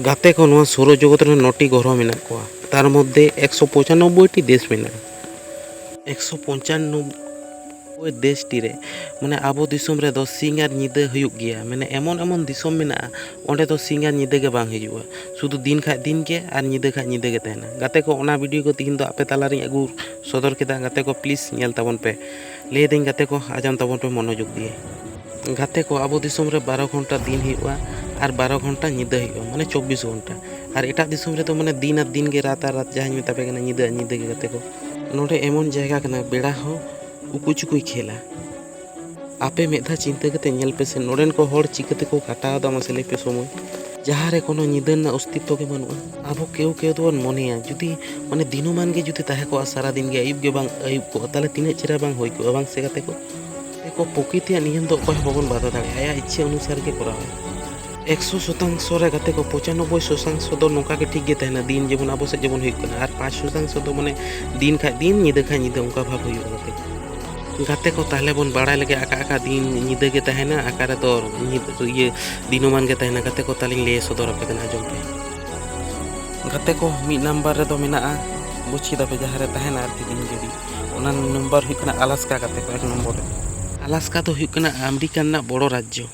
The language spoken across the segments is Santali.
ᱜᱟᱛᱮ ᱠᱚ ᱱᱚᱣᱟ ᱥᱳᱨᱚ ᱡᱚᱜᱚᱛ ᱨᱮ ᱱᱚᱴᱤ ᱜᱚᱨᱦᱚ ᱢᱮᱱᱟᱜ ᱠᱚᱣᱟ ᱛᱟᱨ ᱢᱚᱫᱽᱫᱷᱮ ᱮᱠᱥᱚ ᱯᱚᱸᱪᱟᱱᱚᱵᱽᱵᱚᱭ ᱴᱤ ᱫᱮᱥ ᱢᱮᱱᱟᱜᱼᱟ ᱮᱠᱥᱚ ᱯᱚᱸᱪᱟᱱᱚᱵᱽᱵᱚᱭ ᱫᱮᱥ ᱴᱤ ᱨᱮ ᱢᱟᱱᱮ ᱟᱵᱚ ᱫᱤᱥᱚᱢ ᱨᱮᱫᱚ ᱥᱤᱧ ᱟᱨ ᱧᱤᱫᱟᱹ ᱦᱩᱭᱩᱜ ᱜᱮᱭᱟ ᱢᱟᱱᱮ ᱮᱢᱚᱱ ᱮᱢᱚᱱ ᱫᱤᱥᱚᱢ ᱢᱮᱱᱟᱜᱼᱟ ᱚᱸᱰᱮ ᱫᱚ ᱥᱤᱧ ᱟᱨ ᱧᱤᱫᱟᱹ ᱜᱮ ᱵᱟᱝ ᱦᱤᱡᱩᱜᱼᱟ ᱥᱩᱫᱩ ᱫᱤᱱ ᱠᱷᱟᱱ ᱫᱤᱱ ᱜᱮ ᱟᱨ ᱧᱤᱫᱟᱹ ᱠᱷᱟᱱ ᱧᱤᱫᱟᱹ ᱜᱮ ᱛᱟᱦᱮᱱᱟ ᱜᱟᱛᱮ ᱠᱚ ᱚᱱᱟ ᱵᱷᱤᱰᱤᱭᱳ ᱠᱚ ᱛᱮᱦᱮᱧ ᱫᱚ ᱟᱯᱮ ᱛᱟᱞᱟ ᱨᱤᱧ ᱟᱹᱜᱩ ᱥᱚᱫᱚᱨ ᱠᱮᱫᱟ ᱜᱟᱛᱮ ᱠᱚ ᱯᱞᱤᱡᱽ ᱧᱮᱞ ᱛᱟᱵᱚᱱ ᱯᱮ ᱞᱟᱹᱭ ᱫᱟᱹᱧ ᱜᱟᱛᱮ ᱠᱚ ᱟᱡᱟᱱ ᱛᱟᱵᱚᱱ ᱯᱮ ᱢᱚᱱᱚᱡᱳᱜᱽ ᱫᱤᱭᱮ ᱜᱟᱛᱮ ᱠᱚ ᱟᱵᱚ ᱫᱤᱥᱚᱢ ᱨᱮ ᱵᱟᱨᱚ ᱜᱷᱚᱱᱴᱟ ᱫᱤᱱ ᱦᱩᱭᱩᱜᱼᱟ ᱟᱨ ᱵᱟᱨᱚ ᱜᱷᱚᱱᱴᱟ ᱧᱤᱫᱟᱹ ᱦᱩᱭᱩᱜᱼᱟ ᱢᱟᱱᱮ ᱪᱚᱵᱽᱵᱤᱥ ᱜᱷᱚᱱᱴᱟ ᱟᱨ ᱮᱴᱟᱜ ᱫᱤᱥᱚᱢ ᱨᱮᱫᱚ ᱢᱟᱱᱮ ᱫᱤᱱ ᱟᱨ ᱫᱤᱱ ᱜᱮ ᱨᱟᱛ ᱟᱨ ᱨᱟᱛ ᱡᱟᱦᱟᱸᱧ ᱢᱮᱛᱟ ᱯᱮ ᱠᱟᱱᱟ ᱧᱤᱫᱟᱹ ᱟᱨ ᱧᱤᱫᱟᱹ ᱜᱮ ᱜᱟᱛᱮ ᱠᱚ ᱱᱚᱰᱮ ᱮᱢᱚᱱ ᱡᱟᱭᱜᱟ ᱠᱟᱱᱟ ᱵᱮᱲᱟ ᱦᱚᱸ ᱩᱠᱩ ᱪᱩᱠᱩᱭ ᱠᱷᱮᱞᱟ ᱟᱯᱮ ᱢᱤᱫ ᱫᱷᱟᱣ ᱪᱤᱱᱛᱟᱹ ᱠᱟᱛᱮ ᱧᱮᱞ ᱯᱮᱥᱮ ᱱᱚᱰᱮᱱ ᱠᱚ ᱦᱚᱲ ᱪᱤᱠᱟᱹ ᱛᱮᱠᱚ ᱠᱟᱴᱟᱣ ᱮᱫᱟ ᱢᱟᱥᱮ ᱞᱟᱹᱭ ᱯᱮ ᱥᱚᱢᱚᱭ ᱡᱟᱦᱟᱸ ᱨᱮ ᱠᱳᱱᱳ ᱧᱤᱫᱟᱹ ᱨᱮᱱᱟᱜ ᱚᱥᱛᱤᱛᱛᱚ ᱜᱮ ᱵᱟᱹᱱᱩᱜᱼᱟ ᱟᱵᱚ ᱠᱮᱣ ᱠᱮᱣ ᱫᱚᱵᱚᱱ ᱢᱚᱱᱮᱭᱟ ᱡᱩᱫᱤ ᱢᱟᱱᱮ ᱫᱤᱱᱩᱢᱟᱱ ᱜᱮ ᱡᱩᱫᱤ ᱛᱟᱦᱮᱸ ᱠᱚᱜᱼᱟ ᱥᱟᱨᱟ ᱫᱤᱱ ᱜᱮ ᱟᱹᱭᱩᱵ ᱜᱮ ᱵᱟᱝ ᱟᱹᱭᱩᱵ ᱠᱚᱜᱼᱟ ᱛᱟᱦᱚᱞᱮ ᱛᱤᱱᱟᱹᱜ ᱪᱮᱦᱨᱟ ᱵᱟᱝ ᱦᱩᱭ ᱠᱚᱜᱼᱟ ᱵᱟᱝ ᱥᱮ ᱜᱟᱛᱮ ᱠᱚ ᱠᱚ ᱯᱨᱚᱠᱨᱤᱛᱤᱭᱟᱜ ᱱᱤᱭᱚᱢ ᱫᱚ ᱚᱠᱚᱭ ᱦᱚᱸ ᱵᱟᱵᱚᱱ ᱵᱟᱫᱷᱟ ᱫᱟᱲᱮᱭᱟᱜᱼᱟ ᱟᱭᱟᱜ ᱤᱪᱪᱷᱟᱹ ᱚᱱᱩᱥᱟᱨ ᱜᱮ ᱠᱚᱨᱟᱣᱟ ᱮᱠᱥᱚ ᱥᱚᱛᱟᱝᱥᱚ ᱨᱮ ᱜᱟᱛᱮ ᱠᱚ ᱯᱚᱸᱪᱟᱱᱚᱵᱵᱳᱭ ᱥᱚᱛᱟᱝᱥᱚ ᱫᱚ ᱱᱚᱝᱠᱟ ᱜᱮ ᱴᱷᱤᱠ ᱜᱮ ᱛᱟᱦᱮᱱᱟ ᱫᱤᱱ ᱡᱮᱢᱚᱱ ᱟᱵᱚ ᱥᱮᱫ ᱡᱮᱢᱚᱱ ᱦᱩᱭᱩᱜ ᱠᱟᱱᱟ ᱟᱨ ᱯᱟᱸᱪ ᱥᱚᱛᱟᱝᱥᱚ ᱫᱚ ᱢᱟᱱᱮ ᱫᱤᱱ ᱠᱷᱟᱡ ᱫᱤᱱ ᱧᱤᱫᱟᱹ ᱠᱷᱟᱡ ᱧᱤᱫᱟᱹ ᱚᱱᱠᱟ ᱵᱷᱟᱵᱽ ᱦᱩᱭᱩᱜᱼᱟ ᱜᱟᱛᱮ ᱠᱚ ᱜᱟᱛᱮ ᱠᱚ ᱛᱟᱦᱞᱮ ᱵᱚᱱ ᱵᱟᱲᱟᱭ ᱞᱮᱜᱮ ᱟᱠᱟ ᱟᱠᱟ ᱫᱤᱱ ᱧᱤᱫᱟᱹ ᱜᱮ ᱛᱟᱦᱮᱱᱟ ᱟᱠᱟ ᱨᱮᱫᱚ ᱤᱭᱟᱹ ᱫᱤᱱᱚᱢᱟᱱ ᱜᱮ ᱛᱟᱦᱮᱱᱟ ᱜᱟᱛᱮ ᱠᱚ ᱛᱟᱞᱤᱧ ᱞᱟᱹᱭ ᱥᱚᱫᱚᱨ ᱟᱯᱮ ᱠᱟᱱᱟ ᱟᱸᱡᱚᱢ ᱯᱮ ᱜᱟᱛᱮ ᱠᱚ ᱢᱤᱫ ᱱᱟᱢᱵᱟᱨ ᱨᱮᱫᱚ ᱢᱮᱱᱟᱜᱼᱟ ᱵᱩᱪᱷᱤ ᱫᱟᱯᱮ ᱡᱟᱦᱟᱸ ᱨᱮ ᱛᱟᱦᱮᱱᱟ ᱟᱨᱠᱤ ᱫᱤᱱ ᱡᱩᱫᱤ ᱚᱱᱟ ᱱᱟᱢᱵᱟᱨ ᱦᱩᱭᱩᱜ ᱠᱟᱱᱟ ᱟᱞᱟᱥᱠᱟ ᱜᱟᱛᱮ ᱠᱚ ᱮᱠ ᱱᱚᱢᱵᱚᱨ ᱨᱮ ᱟᱞᱟᱥᱠᱟ ᱫᱚ ᱦᱩᱭᱩᱜ ᱠᱟᱱᱟ ᱟᱢᱮᱨᱤᱠᱟ ᱨᱮᱱᱟᱜ ᱵᱚᱲᱚ ᱨᱟᱡᱽᱡᱚ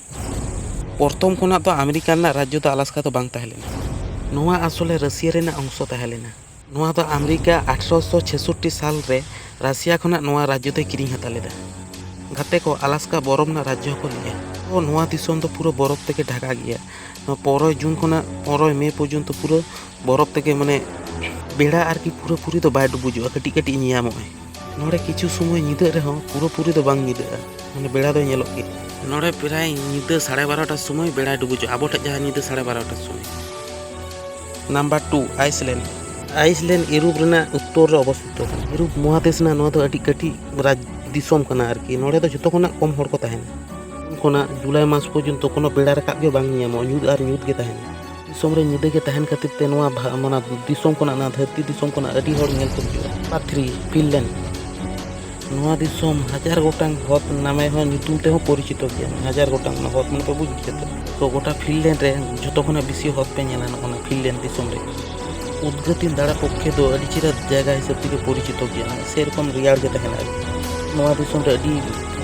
ᱯᱨᱚᱛᱷᱚᱢ ᱠᱷᱚᱱᱟᱜ ᱫᱚ ᱟᱢᱮᱨᱤᱠᱟ ᱨᱮᱱᱟᱜ ᱨᱟᱡᱽᱡᱚ ᱫᱚ ᱟᱞᱟᱥᱠᱟ ᱫᱚ ᱵᱟᱝ ᱛᱟᱦᱮᱸ ᱞᱮᱱᱟ ᱱᱚᱣᱟ ᱟᱥᱚᱞᱮ ᱨᱟᱹᱥᱤᱭᱟ ᱨᱮᱱᱟᱜ ᱚᱝᱥᱚ ᱛᱟᱦᱮᱸ ᱞᱮᱱᱟ ᱱᱚᱣᱟ ᱫᱚ ᱟᱢᱮᱨᱤᱠᱟ ᱟᱴᱷᱨᱚᱥᱚ ᱪᱷᱮᱥᱚᱴᱴᱤ ᱥᱟᱞ ᱨᱮ ᱨᱟᱥᱤᱭᱟ ᱠᱷᱚᱱᱟᱜ ᱱᱚᱣᱟ ᱨᱟᱡᱽᱡᱚ ᱫᱚᱭ ᱠᱤᱨᱤᱧ ᱦᱟᱛᱟᱣ ᱞᱮᱫᱟ᱾ ᱜᱟᱛᱮ ᱠᱚ ᱟᱞᱟᱥᱠᱟ ᱵᱚᱨᱚᱯᱷ ᱨᱮᱱᱟᱜ ᱨᱟᱡᱽᱡᱚ ᱦᱚᱸᱠᱚ ᱞᱟᱹᱭᱟ᱾ ᱱᱚᱣᱟ ᱫᱤᱥᱚᱢ ᱫᱚ ᱯᱩᱨᱟᱹ ᱵᱚᱨᱚᱯᱷ ᱛᱮᱜᱮ ᱰᱷᱟᱠᱟ ᱜᱮᱭᱟ᱾ ᱱᱚᱣᱟ ᱯᱚᱱᱨᱚᱭ ᱡᱩᱱ ᱠᱷᱚᱱᱟᱜ ᱯᱚᱱᱨᱚᱭ ᱢᱮ ᱯᱚᱨᱡᱚᱱᱛᱚ ᱯᱩᱨᱟᱹ ᱵᱚᱨᱚᱯᱷ ᱛᱮᱜᱮ ᱢᱟᱱᱮ ᱵᱮᱲᱟ ᱟᱨᱠᱤ ᱯᱩᱨᱟᱹ ᱯᱩᱨᱤ ᱫᱚ ᱵᱟᱭ ᱰᱩᱵᱩᱡᱚᱜᱼᱟ, ᱠᱟᱹᱴᱤᱡ ᱠᱟᱹᱴᱤᱡ ᱧᱮᱧᱟᱢᱚᱜᱼᱟᱭ᱾ ᱱᱚᱰᱮ ᱠᱤᱪᱷᱩ ᱥᱚᱢᱚᱭ ᱧᱤᱫᱟᱹᱜ ᱨᱮᱦᱚᱸ ᱯᱩᱨᱟᱹᱯᱩᱨᱤ ᱫᱚ ᱵᱟᱝ ᱧᱤᱫᱟᱹᱜᱼᱟ ᱢᱟᱱᱮ ᱵᱮᱲᱟ ᱫᱚ ᱧᱮᱞᱚᱜ ᱜᱮ ᱱᱚᱰᱮ ᱯᱨᱟᱭ ᱧᱤᱫᱟᱹ ᱥᱟᱲᱮ ᱵᱟᱨᱚᱴᱟ ᱥᱚᱢᱚᱭ ᱵᱮᱲᱟᱭ ᱰᱩᱵᱩᱡᱚᱜᱼᱟ ᱟᱵᱚ ᱴᱷᱮᱡ ᱡᱟᱦᱟᱸ ᱧᱤᱫᱟᱹ ᱥᱟᱲᱮ ᱵᱟᱨᱚᱴᱟ ᱥᱚᱢᱚᱭ ᱱᱟᱢᱵᱟᱨ ᱴᱩ ᱟᱭᱤᱥᱞᱮᱱᱰ ᱟᱭᱤᱥᱞᱮᱱᱰ ᱤᱨᱩᱯ ᱨᱮᱱᱟᱜ ᱩᱛᱛᱚᱨ ᱨᱮ ᱚᱵᱚᱥᱛᱤᱛᱚ ᱤᱨᱩᱯ ᱢᱚᱦᱟᱫᱮᱥ ᱨᱮᱱᱟᱜ ᱱᱚᱣᱟ ᱫᱚ ᱟᱹᱰᱤ ᱠᱟᱹᱴᱤᱡ ᱨᱟᱡᱽ ᱫᱤᱥᱚᱢ ᱠᱟᱱᱟ ᱟᱨᱠᱤ ᱱᱚᱰᱮ ᱫᱚ ᱡᱚᱛᱚ ᱠᱷᱚᱱᱟᱜ ᱠᱚᱢ ᱦᱚᱲ ᱠᱚ ᱛᱟᱦᱮᱱᱟ ᱠᱷᱚᱱᱟᱜ ᱡᱩᱞᱟᱭ ᱢᱟᱥ ᱯᱚᱨᱡᱚᱱᱛᱚ ᱠᱳᱱᱳ ᱵᱮᱲᱟ ᱨᱟᱠᱟᱵ ᱜᱮ ᱵᱟᱝ ᱧᱟᱢᱚᱜᱼᱟ ᱧᱩᱛ ᱟᱨ ᱧᱩᱛ ᱜᱮ ᱛᱟᱦᱮᱱᱟ ᱫᱤᱥᱚᱢ ᱨᱮ ᱧᱤᱫᱟᱹ ᱜᱮ ᱛᱟᱦᱮᱱ ᱠᱷᱟᱹᱛᱤᱨ ᱛᱮ ᱱᱚᱣᱟ ᱢᱟᱱᱟ ᱫᱤᱥᱚᱢ ᱠᱷᱚᱱᱟᱜ ᱱᱚᱣᱟ ᱫᱷᱟᱹᱨᱛᱤ ᱫᱤᱥᱚᱢ ᱠᱷᱚᱱᱟᱜ ᱟᱹᱰᱤ ᱦᱚᱲ ᱧᱮᱞ ᱠᱚ ᱦᱤᱡᱩᱜᱼᱟ ᱱᱚᱢᱵᱟᱨ ᱛᱷᱨᱤ ᱯᱷᱤᱱᱞᱮᱱᱰ ᱱᱚᱣᱟ ᱫᱤᱥᱚᱢ ᱦᱟᱡᱟᱨ ᱜᱚᱴᱟᱝ ᱦᱚᱛ ᱱᱟᱢᱮ ᱦᱚᱸ ᱧᱩᱛᱩᱢ ᱛᱮᱦᱚᱸ ᱯᱚᱨᱤᱪᱤᱛᱚ ᱜᱮᱭᱟ ᱦᱟᱡᱟᱨ ᱜᱚᱴᱟᱝ ᱚᱱᱟ ᱦᱚᱛ ᱢᱟᱱᱮ ᱯᱮ ᱵᱩᱡᱽ ᱜᱮᱭᱟ ᱛᱚ ᱛᱚ ᱜᱚᱴᱟ ᱯᱷᱤᱱᱞᱮᱱᱰ ᱨᱮ ᱡᱷᱚᱛᱚ ᱠᱷᱚᱱᱟᱜ ᱵᱮᱥᱤ ᱦᱚᱛ ᱯᱮ ᱧᱮᱞᱟ ᱱᱚᱜᱼᱚ ᱱᱟ ᱯᱷᱤᱱᱞᱮᱱᱰ ᱫᱤᱥᱚᱢ ᱨᱮ ᱩᱫᱽᱜᱟᱹᱛᱤᱱ ᱫᱟᱬᱟ ᱯᱚᱠᱠᱷᱮ ᱫᱚ ᱟᱹᱰᱤ ᱪᱮᱦᱨᱟ ᱡᱟᱭᱜᱟ ᱦᱤᱥᱟᱹᱵ ᱛᱮᱜᱮ ᱯᱚᱨᱤᱪᱤᱛᱚ ᱜᱮᱭᱟ ᱥᱮᱨᱚᱠᱚᱢ ᱨᱮᱭᱟᱲ ᱜᱮ ᱛᱟᱦᱮᱱᱟ ᱱᱚᱣᱟ ᱫᱤᱥᱚᱢ ᱨᱮ ᱟᱹᱰᱤ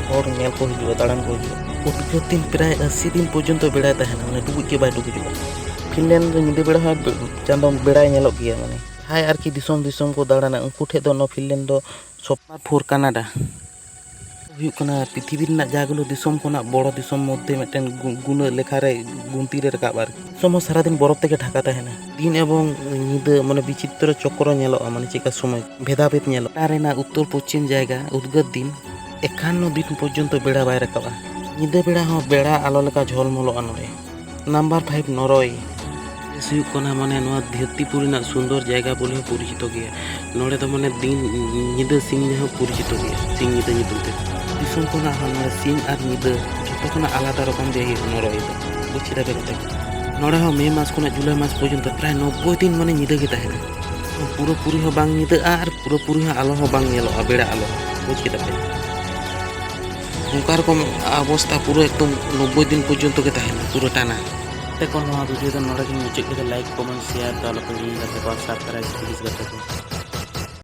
ᱦᱚᱲ ᱧᱮᱞ ᱠᱚ ᱦᱤᱡᱩᱜᱼᱟ ᱫᱟᱬᱟᱱ ᱠᱚ ᱦᱤᱡᱩᱜᱼᱟ ᱩᱫᱽᱜᱟᱹᱨ ᱫᱤᱱ ᱯᱨᱟᱭ ᱟᱹᱥᱤ ᱫᱤᱱ ᱯᱚᱨᱡᱚᱱᱛᱚ ᱵᱮᱲᱟᱭ ᱛᱟᱦᱮᱱᱟ ᱢᱟᱱᱮ ᱰᱩᱵᱩᱡ ᱜᱮ ᱵᱟᱭ ᱰᱩᱵᱩᱡᱚᱜᱼᱟ ᱯᱷᱤᱱᱞᱮᱱᱰ ᱨᱮ ᱧᱤᱫᱟᱹ ᱵᱮᱲᱟ ᱦᱚᱸ ᱪᱟᱸᱫᱚ ᱵᱮᱲᱟᱭ ᱧᱮᱞᱚᱜ ᱜᱮᱭᱟ ᱢᱟᱱᱮ ᱡᱟᱦᱟᱸᱭ ᱟᱨᱠᱤ ᱫᱤᱥᱚᱢ ᱫᱤᱥᱚᱢ ᱠᱚ ᱫᱟᱬᱟᱱᱟ ᱩᱱᱠᱩ ᱴᱷᱮᱱ ᱫᱚ ᱱᱚᱣᱟ ᱯᱷᱤᱱᱞᱮᱱᱰ ᱫᱚ ᱥᱚᱯᱟ ᱯᱷᱳᱨ ᱠᱟᱱᱟᱰᱟ ᱦᱩᱭᱩᱜ ᱠᱟᱱᱟ ᱯᱨᱤᱛᱷᱤᱵᱤ ᱨᱮᱱᱟᱜ ᱡᱟᱦᱟᱸᱜᱩᱞᱳ ᱫᱤᱥᱚᱢ ᱠᱷᱚᱱᱟᱜ ᱵᱚᱲᱚ ᱫᱤᱥᱚᱢ ᱢᱚᱫᱽᱫᱷᱮ ᱢᱤᱫᱴᱮᱱ ᱜᱩᱱᱟᱹ ᱞᱮᱠᱷᱟ ᱨᱮ ᱜᱩᱱᱛᱤ ᱨᱮ ᱨᱟᱠᱟᱵ ᱟᱨᱠᱤ ᱫᱤᱥᱚᱢ ᱦᱚᱸ ᱥᱟᱨᱟᱫᱤᱱ ᱵᱚᱨᱚᱯ ᱛᱮᱜᱮ ᱰᱷᱟᱠᱟ ᱛᱟᱦᱮᱱᱟ ᱫᱤᱱ ᱮᱵᱚᱝ ᱧᱤᱫᱟᱹ ᱢᱟᱱᱮ ᱵᱤᱪᱤᱛᱨᱚ ᱪᱚᱠᱨᱚ ᱧᱮᱞᱚᱜᱼᱟ ᱢᱟᱱᱮ ᱪᱮᱫᱠᱟ ᱥᱚᱢᱚᱭ ᱵᱷᱮᱫᱟᱵᱷᱮᱫ ᱧᱮᱞᱚᱜᱼᱟ ᱨᱮᱱᱟᱜ ᱩᱛᱛᱚᱨ ᱯᱚᱪᱷᱤᱢ ᱡᱟᱭᱜᱟ ᱩᱫᱽᱜᱟᱹᱨ ᱫᱤᱱ ᱮᱠᱷᱟᱱ ᱫᱤᱱ ᱯᱚᱨᱡᱚᱱᱛᱚ ᱵᱮᱲᱟ ᱵᱟᱭ ᱨᱟᱠᱟᱵᱟ ᱧᱤᱫᱟᱹ ᱵᱮᱲᱟ ᱦᱚᱸ ᱵᱮᱲᱟ ᱟᱞᱚ ᱞᱮᱠᱟ ᱡᱷᱚᱞᱢᱚᱞᱚᱜᱼᱟ ᱱᱚᱰᱮ ᱱᱟᱢᱵᱟᱨ ᱯᱷᱟᱭᱤᱵᱷ ᱱᱚᱨᱚᱭ ᱵᱮᱥ ᱦᱩᱭᱩᱜ ᱠᱟᱱᱟ ᱢᱟᱱᱮ ᱱᱚᱣᱟ ᱫᱷᱟᱹᱨᱛᱤᱯᱩᱨ ᱨᱮᱱᱟᱜ ᱥᱩᱱᱫᱚᱨ ᱡᱟᱭᱜᱟ ᱵᱚᱞᱮ ᱦᱚᱸ ᱯᱚᱨᱤᱪᱤᱛᱚ ᱜᱮᱭᱟ ᱱᱚᱰᱮ ᱫᱚ ᱢᱟᱱᱮ ᱫᱤᱱ ᱧᱤᱫᱟᱹ ᱥᱤᱧ ᱦᱚᱸ ᱯᱚᱨᱤᱪᱤᱛᱚ ᱜᱮᱭᱟ ᱥᱤᱧ ᱧᱤᱫᱟᱹ ᱧᱩᱛᱩᱢ ᱛᱮ ᱫᱤᱥᱚᱢ ᱠᱷᱚᱱᱟᱜ ᱦᱚᱸ ᱱᱚᱰᱮ ᱥᱤᱧ ᱟᱨ ᱧᱤᱫᱟᱹ ᱡᱚᱛᱚ ᱠᱷᱚᱱᱟᱜ ᱟᱞᱟᱫᱟ ᱨᱚᱠᱚᱢ ᱡᱟᱭᱜᱟ ᱱᱚᱨᱚᱭ ᱫᱚ ᱵᱩᱡᱽ ᱠᱮᱫᱟ ᱯᱮ ᱜᱟᱛᱮ ᱱᱚᱰᱮ ᱦᱚᱸ ᱢᱮ ᱢᱟᱥ ᱠᱷᱚᱱᱟᱜ ᱡᱩᱞᱟᱭ ᱢᱟᱥ ᱯᱚᱨᱡᱚᱱᱛᱚ ᱯᱨᱟᱭ ᱱᱚᱵᱽᱵᱳᱭ ᱫᱤᱱ ᱢᱟᱱᱮ ᱧᱤᱫᱟᱹ ᱜᱮ ᱛᱟᱦᱮᱱᱟ ᱯᱩᱨᱟᱹ ᱯᱩᱨᱤ ᱦᱚᱸ ᱵᱟᱝ ᱧᱤᱫᱟᱹᱜᱼᱟ ᱟᱨ ᱯᱩᱨᱟᱹ ᱯᱩᱨᱤ ᱦᱚᱸ ᱟᱞᱚ ᱦᱚᱸ ᱵᱟᱝ ᱧᱮᱞᱚᱜᱼᱟ ᱵᱮᱲᱟ ᱟᱞᱚ ᱵᱩᱡᱽ ᱠᱮᱫᱟ ᱯᱮ ᱚᱱᱠᱟ ᱨᱚᱠᱚᱢ ᱚᱵᱚᱥᱛᱟ ᱯᱩᱨᱟᱹ ᱮᱠᱫᱚᱢ ᱱᱚᱵᱽᱵᱳᱭ ᱫᱤᱱ ᱯᱚᱨᱡᱚᱱᱛᱚ ᱜᱮ ᱛᱟᱦᱮᱱᱟ ᱯᱩᱨᱟᱹ ᱴᱟᱱᱟ ᱛᱮᱠᱚ ᱱᱚᱣᱟ ᱵᱷᱤᱰᱤᱭᱳ ᱫᱚ ᱱᱚᱰᱮ ᱜᱮ ᱢᱩᱪᱟᱹᱫ ᱠᱮᱫᱟ ᱞᱟᱭᱤᱠ ᱠᱚᱢᱮᱱᱴ ᱥᱮᱭᱟᱨ ᱫᱚ ᱟᱞᱚᱯᱮ ᱦᱤᱲᱤᱧ ᱜᱟᱛᱮ ᱠᱚ ᱥᱟᱵᱥᱠᱨᱟᱭᱤᱵᱽ ᱯᱞᱤᱡᱽ ᱜᱟᱛᱮ ᱠᱚ